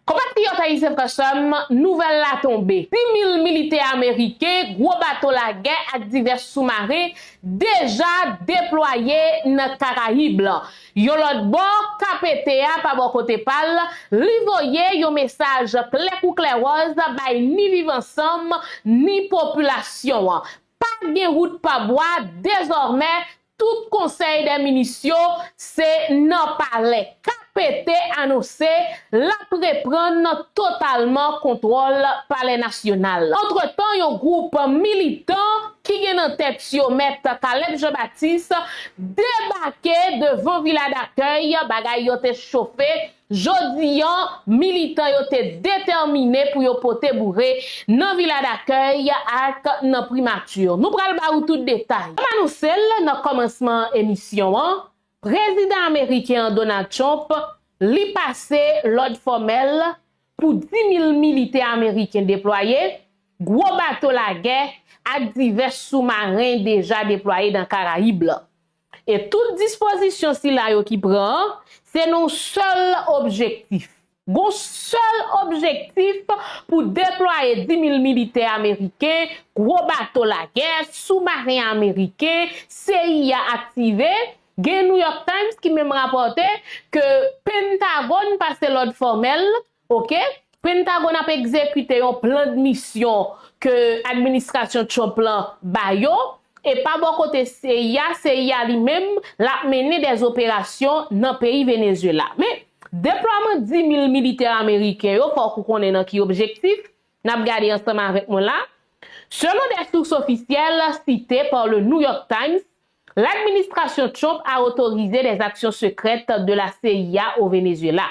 Konpatriyòt ayisyen frè sè m, nouvèl la tonbe, pi mil militè ameriken, gwo bato lagè ak divès soumaren deja deplwaye nan Karayib lan. Yon lòt bò, KPT a pa bò kote pa l, li voye yon mesaj klè kou klèwòz bay ni Viv Ansanm ni popilasyon an, pa gen wout pa bwa dezòmè Tout konsèy dè minis yo se nan palè KPT anonse l ap reprann totalman kontwòl palè nasyonal la. Antretan yon gwoup militan ki gen nan tèt yo mèt Caleb Jean Baptiste debake devan Vila Dakèy bagay yo te chofe Jodi an, militan yo te detèmine pou yo pote boure nan Vila Dakèy ak nan Primati. Nou pral ba ou tout detay. Kòm anonse l nan kòmansman emisyon an, Prezidan ameriken an Donald Trump li pase lòd fòmèl pou 10 mil militè ameriken deplwaye, gwo bato lagè ak divès soumaren deja deplwaye nan Karayib la. E tout dispozisyon sila yo ki pran an, se nan yon sèl objektif. Gon sèl objektif pou deplwaye dimil militè ameriken, gwo bato lagè, soumaren ameriken, cia aktive, gen New York Times ki menm rapòte ke Pentagòn pase lòd fòmèl Ok, Pentagone ap egzekite yon plandmisyon ke administrasyon Trump lan ba yo, e pa bò kote cia, CIA li menm, lap mennen dè operasyon nan peyi Venezuela. Men, deplwaman 10 mil militè ameriken yo, fòk ou konnen nan ki objektif, nap gade ansanm avèk mwen la. Selon dè sous ofisyèl, site par le New York Times, l'administration Trump a autorisé des actions secrètes de la cia au Venezuela.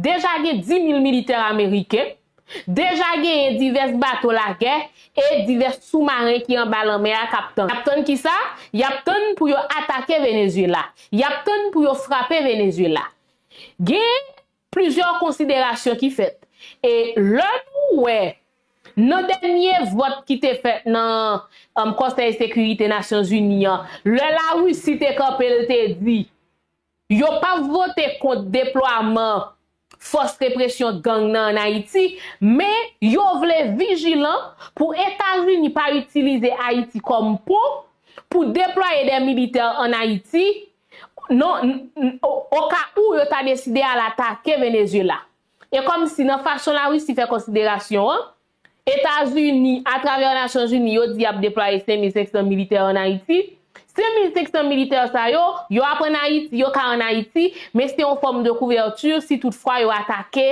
Deja gen 10,000 militè ameriken, deja genyen divès bato lagè e divès soumaren ki anba lanmè a k ap tann. Y ap tann ki sa? Y ap tann pou yo atake Venezyela. Y ap tann pou yo frape Venezyela. Gen plizyè konsiderasyon ki fèt. E lè nou wè nan dènye vòt ki te fèt nan Konsèy Sekirite Nasyonzini an, lè Larisi te kanpe l te di, Yo pa vote kont deplwaman fòs represyon gang nan an Ayiti, men yo vle vijilan pou Etazini pa itilize Ayiti kòm pon pou deplwaye dè militè an Ayiti non oka ou yo ta deside al atake Venezyela. E kòm si nan fason Larisi fè konsiderasyon an, Etazini, atravè Nasyonzini, yo di y ap deplwaye 5,500 militè an Ayiti. 5,500 militè sa yo, yo ap ann Ayiti, yo ka ann Ayiti, men se yon fòm de kouvèti si tout fwa yo atake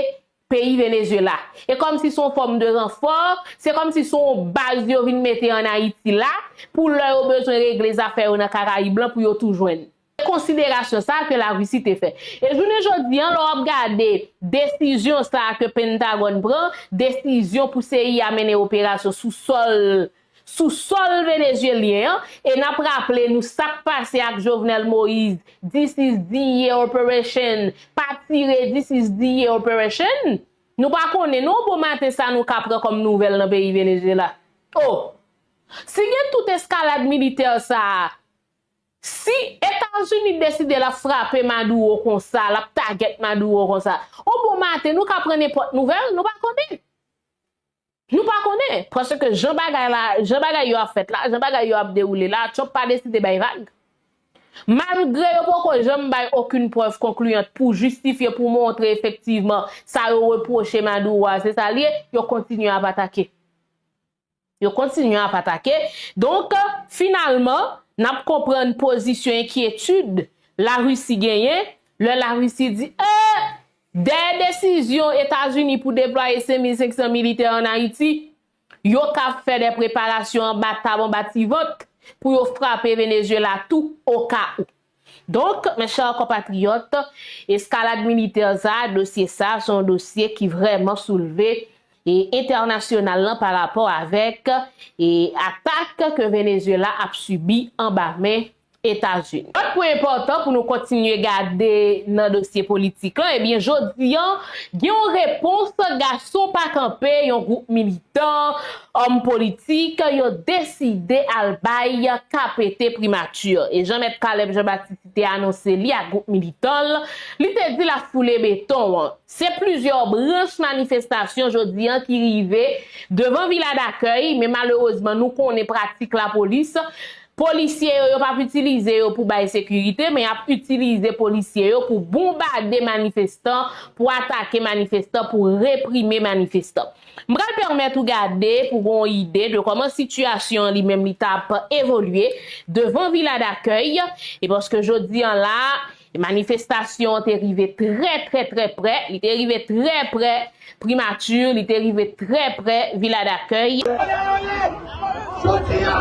peyi Venezyela. E kòm si se yon fòm de ranfò, se kòm si se yon baz yo vin mete ann Ayiti la, pou lè yo bezwen regle zafè yo nan Karayib lan pou yo tou jwenn. konsiderasyon sa ke la Russie te fè. E jounen jodi an lè w ap gade desizyon sa ke Pentagòn pran, desizyon pou CIA mennen operasyon sou sòl sou sòl Venezyelyen an, e n ap raple nou sa k pase ak Jovenel Moise, this is DIA operation, pa tire this is DIA operation, nou pa konnen non bon maten sa nou ka pran kòm nouvèl nan peyi Venezyela. Oh! Si gen tout eskalad militè sa a, Si etazini deside lap frape maduro konsa lap tagèt maduro konsa ou bon maten nou ka pran nenpòt nouvèl nou pa konnen nou pa konnen paske jan bagay la jan bagay yo ap fèt la jan bagay yo ap dewoule la trump pa deside bay vag malgre yo poko janm bay okin prèv konkliyant pou jistifye pou montre efektivman sa yo repwoche maduro a se sa liye yo kontinye ap atake. Yo kontinye ap atake. Donk, finalman, n ap konprann pozisyon enkyetid Larisi genyen lè Larisi di, ee, dèyè desizyon Etazini pou deplwaye 5,500 militè ann Ayiti, yo ka ap fè dè preparasyon anba tab, anba ti vant, pou yo frape Venezyela tou, okawou. Donk, mes chers compatriotes, escalade militaire sa, dosye sa, se yon dosye ki vrèman soulve e entènasyonal lan pa rapò avèk e atak ke Venezuela ap sibi anba men Etazini. Lòt pwen enpòtan pou nou kontinye gade nan dosye politik lan, ebyen jodi an gen yon repons gason pa kanpe yon gwoup militan òm politik yo deside al bay KPT primati e jan mèt Caleb Jean Baptiste te anonse li ak gwoup militan l, li te di l ap foule beton an. Se plizyè branch manifestasyon jodi an ki rive devan Vila Dakèy men malerezman nou konnen pratik lapolis, polisye yo yo p ap itilize yo pou bay sekirite men y ap itilize polisye yo pou bonbade manifestan, pou atake manifestan, pou reprime manifestan. M pral pèmèt ou gade pou gen yon ide de kòman sitiyasyon an li menm li t ap evolye devan Vila Dakèy e paske jodi an la a manifestasyon an te rive trè trè trè prè, li te rive trè prè Primati, li te rive trè prè Vila Dakèy. Aleale! Jodi a!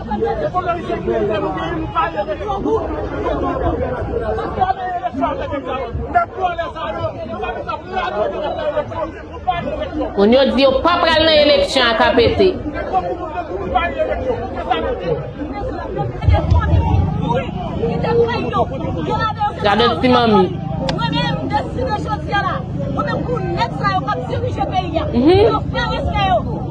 Moun yo di yo pa pral nan eleksyon ak APT. Gade ti manmi. Humm.